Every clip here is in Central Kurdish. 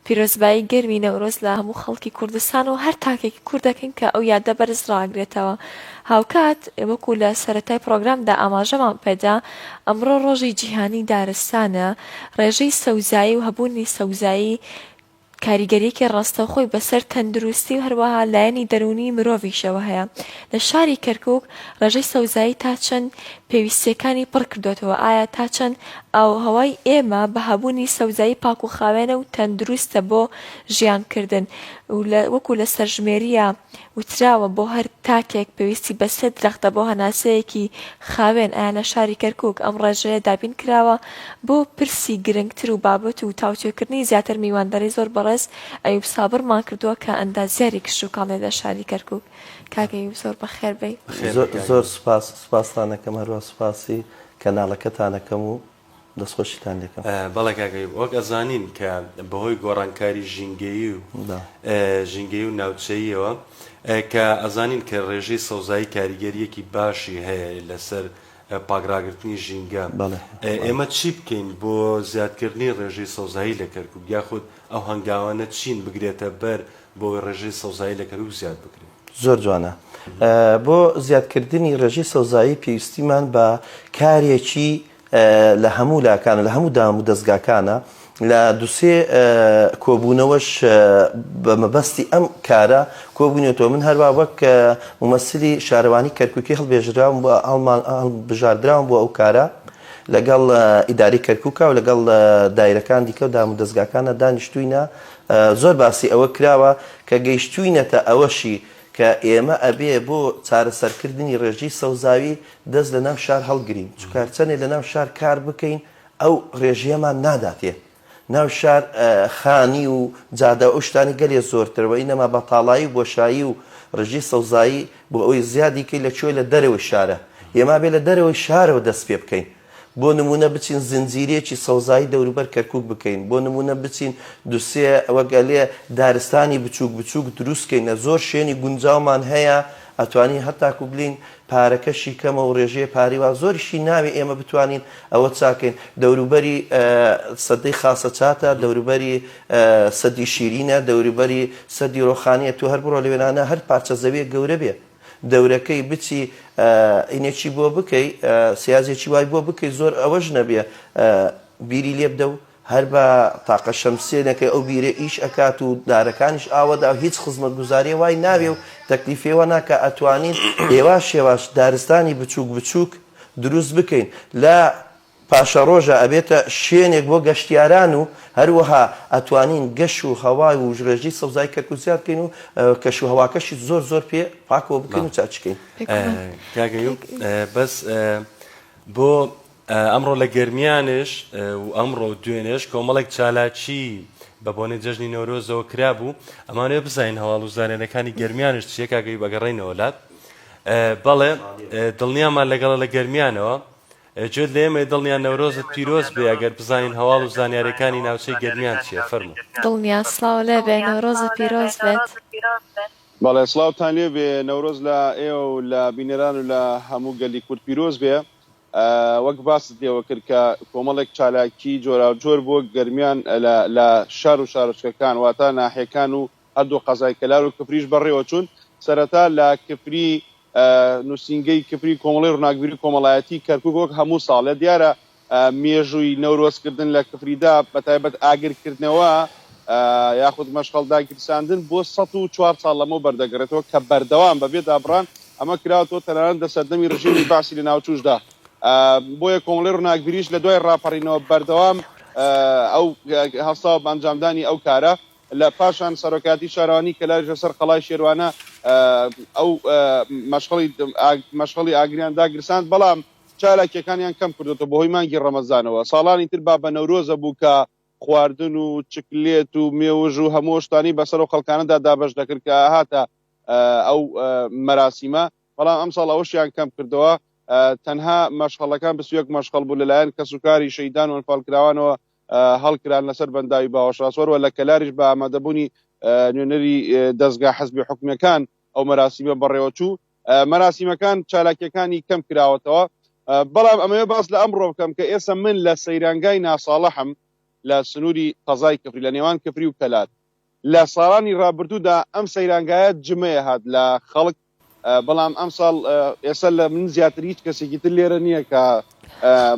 پیرۆزبایی گەرمی نەورۆز لە هەموو خەڵکی کوردستان و هەر تاکێکی کورد دەکەین کە ئەو یادە بەرز ڕاگرێتەوە. هاوکات وەکو لە سەرەتای پرۆگرامدا ئاماژەمان پێدا، ئەمڕۆ ڕۆژی جیهانی دارستانە، ڕێژەی سەوزایی و هەبوونی سەوزایی کاریگەرییەکی ڕاستەوخۆی بەسەر تەندروستی و هەروەها لایەنی دەروونی مرۆڤیشەوە هەیە. لە شاری کەرکوک ڕێژەی سەوزایی تا چەند پێویستییەکانی پڕکردۆتەوە؟ ئایا تا چەند ئاووهەوای ئێمە بە هەبوونی سەوزایی پاک و خاوێنە و تەندروستە بۆ ژیان کردن و لە وەکو لە سەرژمێرییا وتراوە بۆ هەر تاکێک پێویستی بە سێ درەختە بۆ هەناسەیەکی خاوێن ئایا لە شاری کەرکوک ئەم ڕێژەیە دابین کراوە بۆ پرسی گرنگتر و بابەت و تاوتوێکردنی زیاتر میوانداری زۆر بەڕێز ئەیوب سابڕمان کردووە کە ئەندازیاری کشتوکاڵیە لە شاری کەرکوک کاک ئەیوب زۆر بەخێر بێی. زۆر سوپاس سوپاستان ئەکەم هەروە سوپاسی کەناڵەکەتان ئەکەم و دەست خۆشیتان لێ ئەکەم. بەڵێ کاک ئەیوب وەک ئەزانین کە بەهۆی گۆڕانکاری ژینگەیی و ژینگەیی و ناوچەییەوە کە ئەزانین کە ڕێژەی سەوزایی کاریگەریەکی باشی هەیە لەسەر پاک ڕاگرتنی ژینگە ئێمە چی بکەین بۆ زیادکردنی ڕێژەی سەوزایی لە کەرکوک یاخود ئەو هەنگاوانە چین بگرێتە بەر بۆ ڕێژەی سەوزایی لە کەرکوک زیاد بکرێت؟ زۆر جوانە بۆ زیادکردنی ڕێژەی سەوزایی پێویستیمان بە کارێکی لە هەموو لاکانە لە هەموو دام و دەستگاکانە لە دوسێ کۆبوونەوەش بە مەبەستی ئەم کارە کۆبوونێتەوە من هەروە وەک ممەسلی شارەوانی کەرککی هەڵبێژراوم بۆ ئەڵمان بژاردراوم بۆ ئەو کارە لەگەڵ ئیداری کەرککە و لەگەڵ دایرەکان دیکە و دام و دەستگاکانە دانیشتوینە زۆر باسی ئەوە کراوە کە گەیشتووینەتە ئەوەشی کە ئێمە ئەبێ بۆ چارەسەرکردنی رێژەی سەوزاوی دەست لە ناو شار هەڵگرین، چونکە هەرچەندێ لە ناو شار کار بکەین ئەو رێژەیەمان ناداتێ. ناو شار خانی و جادە و ئەو شتانەی گەلێ زۆرترە، وە ئینەما بەتاڵایی و بۆشایی و رێژەی سەوزایی بۆ ئەوەی زیادی کەی لە کوێ لە دەرەوەی شارە، ئێمە ئەبێ لە دەرەوەی شارەوە دەست پێ بکەین. بۆ نموونە بچین زنجیرەیەکی سەوزایی دەوروبەر کەرکووک بکەین، بۆ نموونە بچین دوو سێ وەک ئەلێ دارستانی بچووک بچووک دروست کەینە، زۆر شوێنی گونجاومان هەیە، ئەتوانین هەتاکوو بلێین پارەکەشی کەمە و رێژەیە پارەی وا زۆریشی ناوێ ئێمە بتوانین ئەوە چاک کەین، دەوروبەری سەدەی خاسە چاتە، دەوروبەری سەدی شیرینە، دەوروبەری سەدی رۆخانییە، تۆ هەر بڕۆ لەوێ نانا هەر پارچە زەوییەک گەورە بێ، دەورەکەی بچی ئینێکی بۆ بکەی سیازێکی وای بۆ بکەی زۆر ئەوەش نەبێ بیری لێ بدە و هەر بە تاقە شەمسێنەکەی ئەو بیرە ئیش ئەکات و دارەکانیش ئاوەدا و هیچ خزمەت گوزاریە وای ناوێ و تەکلیفێوە ناکە ئەتوانین ئێواش شێواش دارستانی بچووک بچووک دروست بکەین لە پاشەڕۆژە ئەبێتە شوێنێک بۆ گەشتیاران و هەروەها ئەتوانین گەش و هەوا و ژرێژی سەوزایی کەرکوک زیاد بکەین و کەش و هەواکەشی زۆر زۆر پێ پاکەوە بکەین و چاچ کەین. کاک ئەیوب بەس بۆ ئەمڕۆ لە گەرمیانێش و ئەمڕۆ و دوێنێش کۆمەڵێک چالاکی بە بۆنەی جەژنی نەورۆزەوە کرابوو ئەمانەوە بزانین هەواڵ و زانێنەکانی گەرمیانش چیە کاگەی بەگەڕینەوە لات بەڵێ دڵنیامان لەگەڵە لە گەرمیانەوە گوێت لە ئێمەیە دڵنیا نەورۆزت پیرۆز بێ ئەگەر بزانین هەواڵ و زانیارێکانی ناوچەی گەرمیان چیە فەرموو. دڵنیا سڵاو لێبێ نەورۆزت پیرۆز بێت. بەڵێ سڵاوتان لێ بێ نەورۆز لە ئێوە و لە بینەران و لە هەموو گەلی کورد پیرۆز بێ وەک باست لێوە کرد کە کۆمەڵێک چالاکی جۆراو جۆر بۆ گەرمیان لە لە شار و شارۆچکەکان واتە ناحیەکان و هەردوو قەزای کەلار و کفریش بەڕێوە چوون، سەرەتا لە کفری نووسینگەی کفری کۆمەڵەی ڕووناکبیری کۆمەڵایەتی کەرکووک وەک هەموو ساڵێ دیارە مێژووی نەورۆز کردن لە کفریدا بە تایبەت ئاگر کردنەوە یاخود مەشخەڵ داگیرساندن بۆ سەد و چوار ساڵ لەمەو بەردەگەڕێتەوە کە بەردەوام بە بێ دابڕان ئەمە کراوەتەوە تەنانەت لە سەردەمی ڕژێمی بەعسی لە ناوچووشدا بۆیە کۆمەڵی ڕووناکبیریش لە دوای ڕاپەڕینەوە بەردەوام ئەو هەستا بە ئەنجامدانی ئەو کارە لە پاشان سەرۆکایەتی شارەوانی کەلاریش لە سەر قەڵای شێروانە ئەو مەشخەڵی ئاگریان داگرساند، بەڵام چالاکیەکانیان کەم کردۆتەوە بە هۆی مانگی ڕەمەزانەوە. ساڵانی تر بابە نەورۆزە بوو کە خواردن و چکلێت و مێوژ و هەموو ئەو شتانەی بە سەر ئەو خەڵکانەدا دابەش دەکرد کە ئەهاتە ئەو مەراسیمە، بەڵام ئەم ساڵ ئەوەشیان کەم کردەوە. تەنها مەشخەڵەکان بیست و یەک مەشخەڵ بوو لە لایەن کەسوکاری شەهیدان و ئەنفالکراوانەوە هەڵکران لەسەر بەنداوی باوەشاسوەر و لە کەلاریش بە ئامادەبوونی نوێنەری دەزگا حەزبی حکومیەکان ئەو مەراسیمە بەڕێوەچوو مەراسیمەکان چالاکیەکانی کەم کراوەتەوە بەڵام ئەمەوێ باس لە ئەمڕۆ بکەم کە ئێستا من لە سەیرانگای ناساڵەحم لە سنووری قەزای کفری لە نێوان کفری و کەلار لە ساڵانی ڕابردوودا ئەم سەیرانگایە جمەیە هات لە خەڵک بەڵام ئەم ساڵ ئێستا لە من زیاتر هیچ کەسێکی تر لێرە نییە کە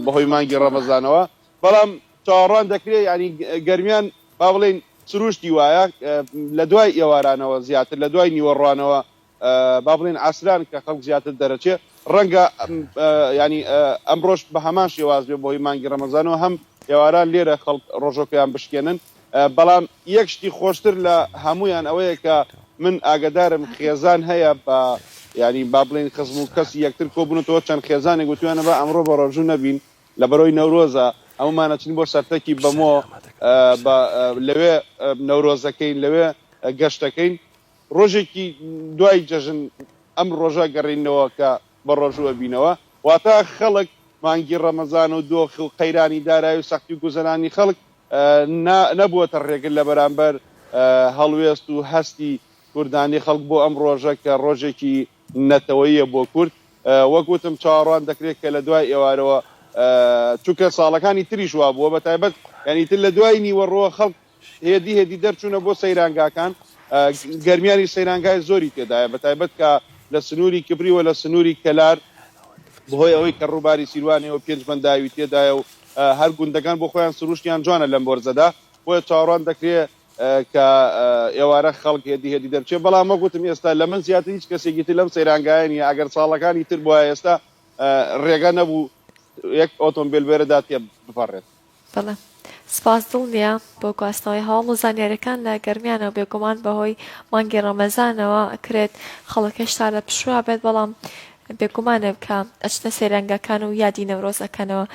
بەهۆی مانگی ڕەمەزانەوە بەڵام چاوەڕوان دەکرێت ینی گەرمیان با بڵین سروشتی وایە لە دوای ئێوارانەوە زیاتر لە دوای نیوەڕوانەوە با بڵێین ئاسران کە خەڵک زیاتر دەرەچێ ڕەنگە ینی ئەمڕۆش بە هەمان شێواز بێ بۆی مانگی ڕەمەزان و هەم ئێواران لێرە خەڵک ڕۆژۆکەیان بشکێنن بەڵام یەک شتی خۆشتر لە هەمویان ئەوەیە کە من ئاگدارم خێزان هەیە بە ینی با بڵین خزم و کەسی یەکتر کۆبوونەوە چەند خێزانێک گوتویانە بە ئەمڕۆ بە ڕۆژوو نەبین لە بەرۆی نەورۆزە هەمومانەچین بۆ سەرتەکی بەمۆ لەوێ نەورۆزەکەین لەوێ گەشتەکەین ڕۆژێکی دوای جەژن ئەم ڕۆژە گەڕینەوە کە بە ڕۆژوو ئەبینەوە واتە خەڵک مانگی ڕەمەزان و دۆخ و قەیرانی دارای و سەختی گوزەرانی خەڵک نەبووەتە ڕێگر لە بەرامبەر هەڵوێست و هەستی کوردانی خەڵک بۆ ئەم ڕۆژە کە ڕۆژێکی نەتەوەییە بۆ کورد وەک وتم چاوەڕوان دەکرێت کە لە دوای ئێوارەوە چونکە ساڵەکانی تریش وابووە بە تایبەت یعنی تر لە دوای نیوەڕۆ خەڵک هێدی هێدی دەرچوونە بۆ سەیرانگاکان گەرمیانی سەیرانگای زۆری تێدایە بە تایبەت کە لە سنووری کبری و لە سنووری کەلار بەهۆی ئەوەی کە ڕووباری سیروانەوە پێنج بەنداوی تێدایە و هەر گوندەکان بۆ خۆیان سروشتیان جوانە لەم بۆرزەدا بۆیە چاوەڕوان دەکرێ کە ئێوارە خەڵک هێدی هێدی دەرچێ بەڵام وەگوتم ئێستا لە من زیاتر هیچ کەسێکی تر لەم سەیرانگایانی ئەگەر ساڵەکانی تر بۆە ئێستا ڕێگە نەبوو یەک ئۆتۆمبیل بێرەدا تێ بپەڕێت بەڵێ سپاس دڵنیا بۆ گواستنەوەی هەواڵ و زانیاریەکان لە گەرمیانەوە بێگومان بەهۆی مانگی ڕەمەزانەوە ئەکرێت خەڵک هێشتا لە پشووا بێت بەڵام بێگومانە کە ئەچنە سەیرانگاکان و یادی نەورۆز ئەکەنەوە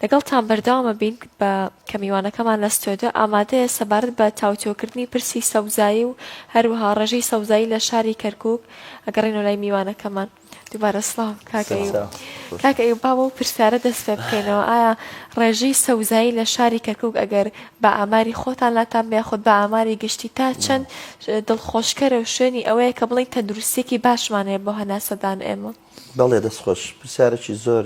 لەگەڵتان بەردەوامە بین بە کە میوانەکەمان لە ستۆدیۆ ئامادەیە سەبارەت بە تاوتۆکردنی پرسی سەوزایی و هەروەها ڕێژەی سەوزایی لە شاری کەرکوک ئەگەڕێنەوە لای میوانەکەمان دووبارە سڵاو کاک ئەیوب. سلاو خۆش کاک ئەیوب با بەو پرسیارە دەست پێ بکەینەوە ئایا ڕێژەی سەوزایی لە شاری کەرکوک ئەگەر بە ئاماری خۆتان لاتان بێ یاخود بە ئاماری گشتی تا چەند دڵخۆشکەرە و شوێنی ئەوەیە کە بڵێین تەندروستیەکی باشمان هەیە بۆ هەناسەدان ئێمە؟ بەڵێ دەست خۆش پرسیارێکی زۆر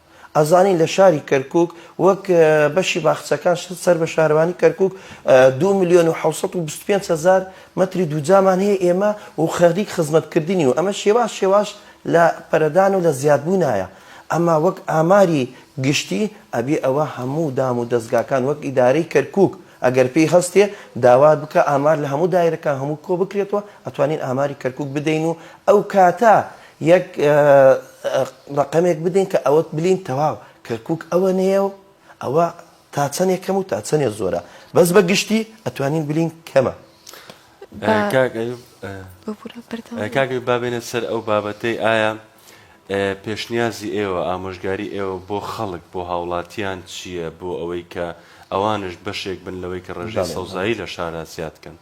ئەزانین لە شاری کەرکوک وەک بەشی باخچەکان سەر بە شارەوانی کەرکک دو ملیۆن و حوسەد و بیست پێنج هەزار مەتری دووجامان هەیە ئێمە و خەریک خزمەتکردنی و ئەمە شێواش شێواش لە پەرەدان و لە زیادبوونایە ئەما وەک ئاماری گشتی ئەبێ ئەوە هەموو دام و دەزگاکان وەک ئیدارەی کەرکک ئەگەر پێی هەستێ داوات بکا ئامار لە هەموو دایرەکان هەموو کۆ بکرێتەوە ئەتوانین ئاماری کەرکوک بدەین و ئەو کاتە یەک ڕەقەمێک بدەین کە ئەوەت بلین تەواو کەرکوک ئەوەنەیە و ئەوە تا چەنێ کەم و تا چەنێ زۆرە بەس بە گشتی ئەتوانین بلین کەمە. کاک ئەیوب بابێنە سەر ئەو بابەتەی ئایا پێشنیازی ئێوە، ئامۆژگاری ئێوە بۆ خەڵک، بۆ هاوڵاتیان چییە بۆ ئەوەی کە ئەوانش بەشێک بن لەوەی کە ڕێژەی سەوزایی لە شارا زیاد کەن؟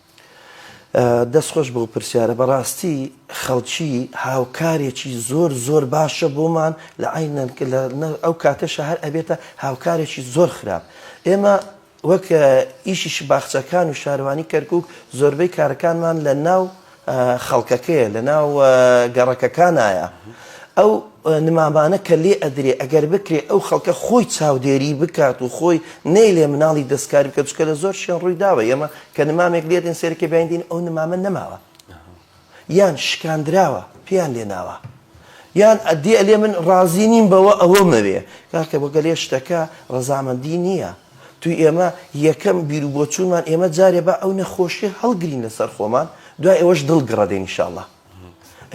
دەست خۆش بەو پرسیارە، بەڕاستی خەڵکی هاوکارێکی زۆر زۆر باشە بۆمان لە عەین ئەو کاتەشە هەر ئەبێتە هاوکارێکی زۆر خراپ ئێمە وەک ئیشیش باخچەکان و شاروانی کەرکوک زۆربەی کارەکانمان لە ناو خەڵکەکەیە لە ناو گەڕەکەکانایە ئەو نمامانە کە لێ ئەدرێ ئەگەر بکرێ ئەو خەڵکە خۆی چاودێری بکات و خۆی نەی لێ مناڵی دەستکاری بکە چکە لە زۆر شوێن ڕووی داوە ئێمە کە نمامێک لێدن سێرکێ بەیندین ئەو نمامە نەماوە یان شکاندراوە پێیان لێ ناوە یان ئەدی ئەلێ من ڕازی نیم بەوە ئەوە مەوێ کاکە بۆ گەلێ شتەکە ڕەزامەندی نییە توی ئێمە یەکەم بیر و بۆچوونمان ئێمە جارێ با ئەو نەخۆشیە هەڵگرین لەسەر خۆمان دوای ئەوەش دڵ گڕە دێن ئیشاڵڵا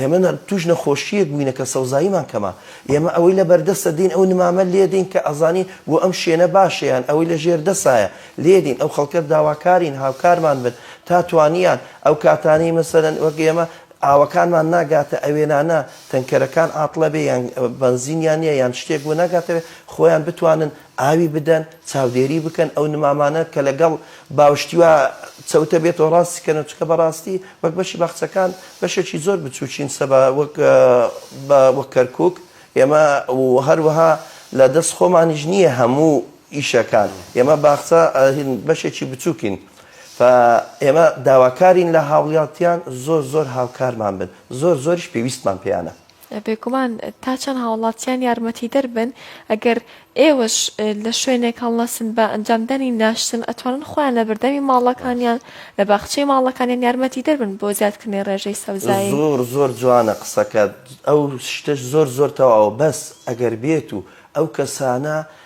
ئێمە توش نەخۆشیەک بووینە کە سەوزاییمان کەمە ئێمە ئەوەی لە بەردەستە دین ئەو نمامە لێدەین کە ئەزانین بۆ ئەم شوێنە باشەیان ئەوەی لە ژێر دەسایە لێدین ئەو خەڵکە داواکارین هاوکارمان بن تا توانیان ئەو کاتانەی مەسەلەن وەک ئێمە ئاوەکانمان ناگاتە ئەوێنانە تەنکەرەکان عاتڵە بێ یان بەنزینیان نیە یان شتێک بۆ ناگاتەوێ خۆیان بتوانن ئاوی بدەن چاودێری بکەن ئەو نمامانە کە لەگەڵ باوشتی وا چەوتە بێتەوە ڕاستی کەن و چکە بەڕاستی وەک بەشی باخچەکان بەشێکی زۆر بچووکین سەبا وەک بە وەک کەرکک ئێمە هەروەها لە دەست خۆمانیش نییە هەموو ئیشەکان ئێمە باخچە هین بەشێکی بچوکین فە ئێمە داواکارین لە هاوڵیاتیان زۆر زۆر هاوکارمان بن زۆر زۆریش پێویستمان پێیانە. بێگومان تا چەند هاوڵاتیان یارمەتیدەر بن ئەگەر ئێوەش لە شوێنێک هەڵنەسن بە ئەنجامدانی ناشتن ئەتوانن خۆیان لە بەردەمی ماڵەکانیان لە باخچەی ماڵەکانیان یارمەتیدەر بن بۆ زیادکردنەی ڕێژەی سەوزایی. زۆر زۆر جوانە قسەکەت ئەو شتەش زۆر زۆر تەواوە بەس ئەگەر بێت و ئەو کەسانە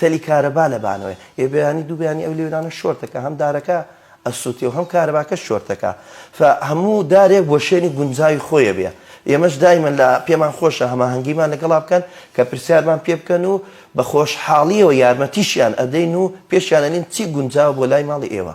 تەلی کارەبا لە بانەوەیە ئێ بەیانی دوو بەیانی ئەو لێورانە شۆرت دەکا هەم دارەکە ئەسووتێ و هەم کارەباکەش شۆرت دەکا فە هەموو دارێک بۆ شوێنی گونجاوی خۆیە بێ ئێمەش دایمەن لە پێمان خۆشە هەماهەنگیمان لەگەڵا بکەن کە پرسیارمان پێ بکەن و بە خۆشحاڵیەوە یارمەتیشیان ئەدەین و پێشیان ئەلێن چی گونجاوە بۆ لای ماڵی ئێوە.